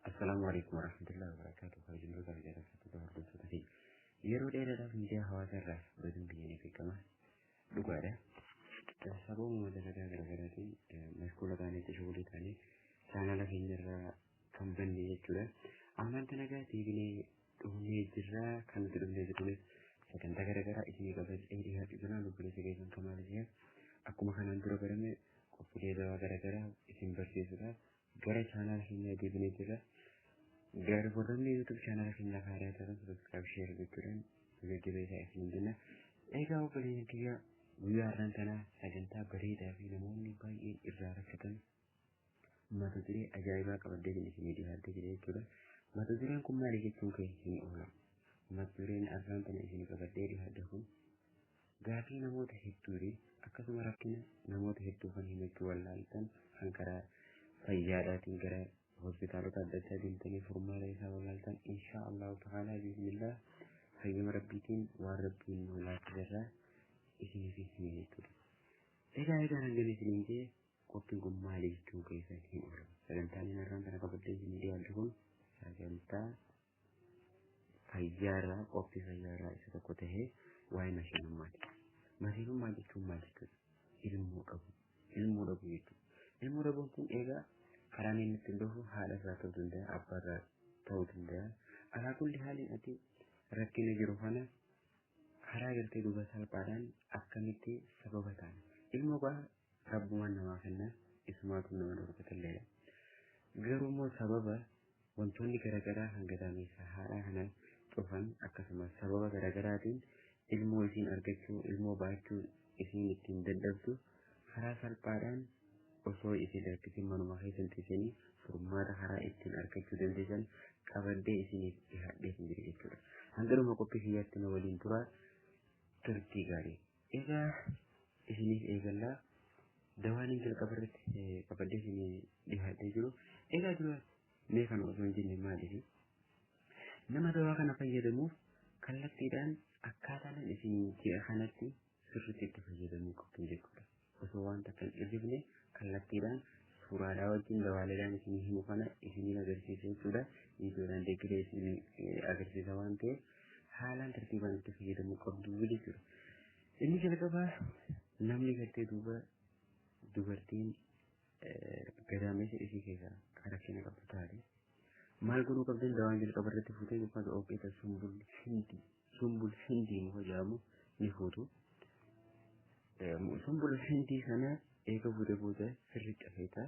Assalaamu alaikum warahmatullahi wabarakatuh. Kabajamtoota fi jaalattoota hordoftoota fi yeroo dheeraadhaaf miidiyaa hawaasaa irraa baduun biyya ni beekama. Dhugaadha. Sababuma dalagaa garaagaraatiin mashkuula taanee tashuulii taanee chaanala keenyarraa kan banne jechuudha. Ammaan dalagaa deebinee dhufnee jirra kan nuti dhufnee jirrunis sagantaa garaagaraa isinii qabachaa dhiyaachuu jira lubbuleessa keessan kamaal ishee akkuma kanaan dura barame qophiilee gabaa garaagaraa isin barsiisuudhaaf gara chaanaala keenyaa deebinee jirra. Gara warroonni YouTube chaanaala keenyaaf haaraa ta'an subscribe share gochuudhaan jajjabee isaa isin jenna. Egaa obboleeyyan kiyya guyyaa har'aan tanaa sagantaa bareedaa fi namoonni baay'een irraa rakkatan mata duree ajaa'ibaa qabaddee kan isin dhiyaatee jira jechuudha. Mata dureen kun maali jechuun kee hin oola. Mata dureen har'aan tana isin qabaddee dhiyaadde kun Gaafii namoota hedduu fi akkasuma rakkina namoota hedduu kan himachuu wallaaltan kan karaa fayyaadhaatiin gara hospitaalota adda addaa deemtanii furmaata isaa wallaaltan inshaa Allahu ta'aalaa biiznillah fayyama rabbiitiin waan rabbiin nu laaffiserraa isiniif hime jechuudha. Egaa egaa hangana isiniin jee qophiin kun maali jechuun keessan hin oolu. Sagantaan inni har'aan kana qabadhee isinii dhiyaadhu kun sagantaa fayyaarraa qophii fayyaarraa isa tokko tahee waa'ee mashiinummaati. Mashiinummaa jechuun maal jechuudha? Ilmoo dhabuu. Ilmoo dhabuu jechuudha. Ilmoo dhabuun kun egaa karaa inni ittiin dhufu haadha irraa ta'uu danda'a, abbaa irraa ta'uu danda'a. Alaa kulli haaliin ati rakkina jiru kana karaa gartee duuba salphaadhaan akkamitti sababa ta'an. Ilmoo gaa rabbumaan namaa kenna isumaatu nama dhorkatelleedha. Garuu immoo sababa Wantoonni garagaraa kan gadaameessa haadhaa kana cufan akkasumas sababa garagaraatiin ilmoo isiin argachuu, ilmoo baachuu isiin ittiin dadhabdu karaa salphaadhaan osoo isin rakkisin manuma keessan teessanii furmaata karaa ittiin argachuu dandeessan qabadhee isiniif dhihaadheetin jira jechuudha. Hanga dhuma qophii kiyyaatti na waliin turaa turtii gaarii. Egaa isiniif eegallaa dawaan hin jalqaba irratti qabadee isin dhihaatee jiru. Egaa dura mee kana osoo hin jenne maaliif? Nama dawaa kana fayyadamuuf kallattiidhaan akkaataa nan isin ji'a kanatti sirriitti itti fayyadamuu qabdu jechuudha. Osoo waan takka hin dhirrifne kallattiidhaan suuraadhaa wajjin dawaaleedhaan isin himu kana isiniin agarsiisa jechuudha. Viidiyoodhaan deeggaree isin agarsiisa waan ta'eef haalaan tartiibaan itti fayyadamuu qabdu jechuudha. Inni jalqabaa namni gartee duuba dubartiin gadaameessa ishee keessaa kan rakkina qabdu taate maal godhuu qabdan dawaan jalqaba irratti fuutee yookaan ogeessa sumbul hindi sumbul hindi muka jedhamu ni fuutu. Sumbul hindi sana eega fuutee booda sirriitti afeetaa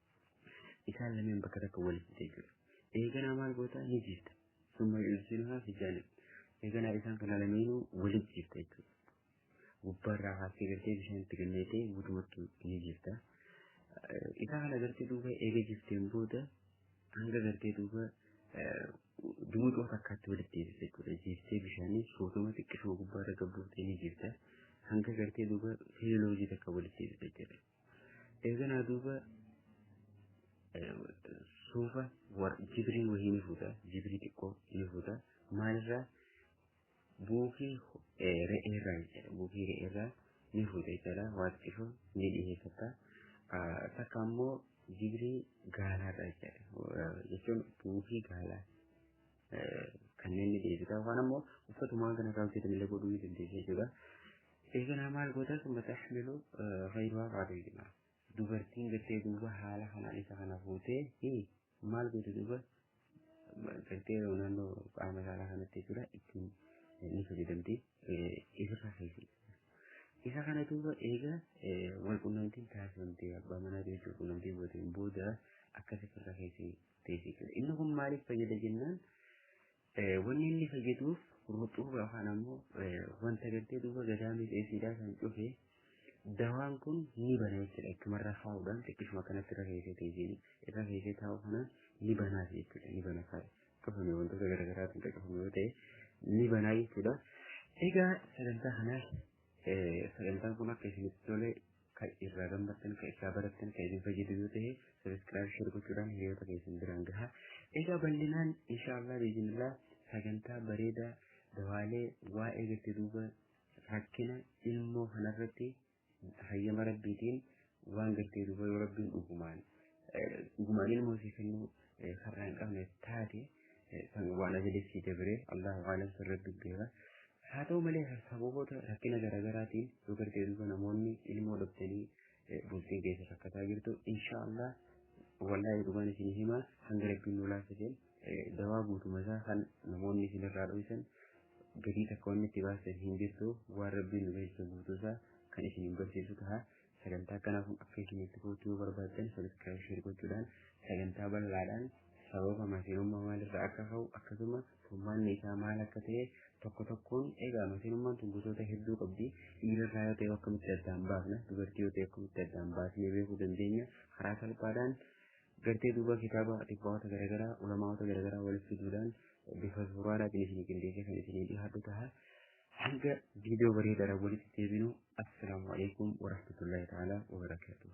isaan lameen bakka takka walitti jechuudha. Eeganaa maal goota ni jiifta. Summa yunsinuhaa fi jaanib. Eeganaa isaan kana lameenuu walitti jiifta jechuudha. Gubbaarraa haasee galtee bishaanitti ganneetee guutumatti ni jiifta. Isaa kana gartee duuba eega jifteen booda hanga gartee duuba dumuxoo takkaatti walitti deebisa jechuudha. Jiiftee bishaanii sootuma xiqqisuma gubbaarra gabbuutee ni jiifta. Hanga gartee duuba feeloojii takka walitti deebisa jechuudha. eeganaa duuba suufa jibrii wayii ni fuuta jibrii xiqqoo ni fuuta maalirraa buukii re'eerraa jechuudha buukii re'eerraa ni fuuta jechuudha waan xiqqoo ni dhiheeffata takka ammoo jibrii gaalaarraa jechuudha jechuun buukii gaalaa kanneen ni deebita yookaan ammoo uffatumaan kana irraa hojjetame illee godhuu ni dandeessa jechuudha. Eeganaa maal goota summa taxmilu fayiduhaa qaaduu jedhama. Dubartiin gartee duuba haala kanaan isa kana fuutee maal gooti duuba gartee naannoo qaama saalaa kanatti jechuudha ittiin ni fayyadamti ifirraa keessi. Isa kana duuba eega wal qunnamtiin taasifamtee abbaa manaa jechuun qunnamtii booteen booda akkas ifirraa keessi beeksisa. Inni kun maaliif fayyada jennaan wanni inni fayyaduuf ruxuuba yookaan ammoo wanta gartee duuba gadaamii dheesiidhaa kan cufe dawaan kun ni bana jechuudha. Akkumarra kaa'uudhaan xiqqishuma kanatti irra keessee teessin irra keessee taa'u kana ni banaaf jechuudha. Ni bana kaa'e. Cufame wantoota garaagaraatiin kan cufame yoo ta'e ni banaa jechuudha. Egaa sagantaa kanaaf sagantaan kun akka isinitti tole ka irraa gammaddan ka irraa barattan ka isin fayyadu yoo ta'e sabiskiraayib sheer gochuudhaan hiriyoota keessan biraan gahaa egaa bal'inaan inshaallah biizinillah sagantaa bareedaa dawaalee waa'ee gatti duuba rakkina ilmoo kanarratti hayyama rabbiitiin waan gartee duuba yoo rabbiin dhugumaan dhugumaan ilmoo isii kennuu karraa hin qabne taate kan waan ajalee sii dabree Allahu aalam sirratti beeka. Haa ta'u malee sababoota rakkina garaagaraatiin yoo gartee duuba namoonni ilmoo dhabdanii bultiin keessa rakkataa jirtu inshaallah wallahi dhugaan isin hima hanga rabbiin nu laafiseen dawaa guutuma isaa kan namoonni isin irraa dho'isan gadii takka wanni itti baasan hin jirtu waan rabbiin nu beeksisa guutuu isaa kan isin hin barsiisu ta'a Sagantaa akkanaa kun akka isinitti fuutu yoo barbaaddan sabiskiraayib sheer gochuudhaan sagantaa bal'aadhaan sababa masinummaa maalirraa akka ka'u akkasuma furmaanni isaa maal akka ta'e tokko tokkoon egaa masinummaan tun gosoota hedduu qabdi dhiirarraa yoo ta'e akkamitti addaan baafna dubartii yoo ta'e akkamitti addaan baasnee beekuu dandeenya karaa salphaadhaan gartee duuba kitaaba dhibbaawota garaagaraa ulamaawota garaagaraa walitti fiduudhaan bifa suuraadhaatiin isinii qindeessee kan isinii dhiyaatu ta'a. Hanga viidiyoo bareedaadhaan walitti deebinu assalaamu alaikum warahmatullahi ta'ala wabarakaatuh.